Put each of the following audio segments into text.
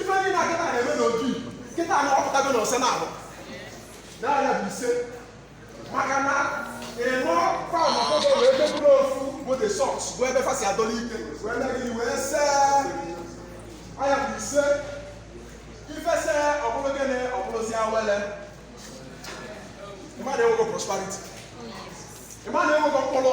ife niine a kịta na-eme n'otu igbo kịta na ọpụtago na ọsa na-abụ na nya bụ ise maka na ịnụ paụn ọkụkọ wee deburu ofu bụ the source bụ ebe fa si adọlụ ike wee nye gị wee see nya bụ ise ifese ọ bụrụ gịnị ọ bụrụzi awele ị ma na e nwego prosperity ị ma na e nwego mkpụrụ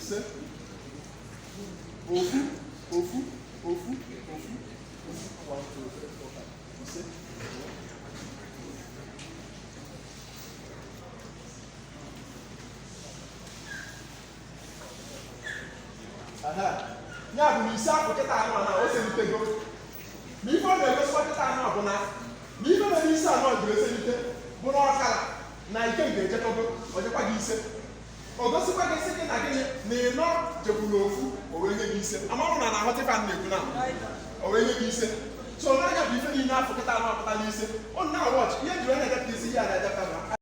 ise ofu ofu ofu ofu ise ya bụ na isi ahụ kịta nụ na o selitego na ife ọ na-egosikwa kịta nụ bụ na na ife na-eme isi anụ ji eselite bụ na ọkara na ike m ga-ejekọgo o jekwa gị ise o gosikwa gị sị gị na gịnị na ị na-ejekwuru ofu o wee nye gị ise amarọ m ma ị na-aghọta ife a na-ekwu na o wee nye gị ise so nya bụ ife niile afụ kịta nụ apụta n'ise ọ na-awọchị ihe jiri onye edepụta isi ihe a na-edepụta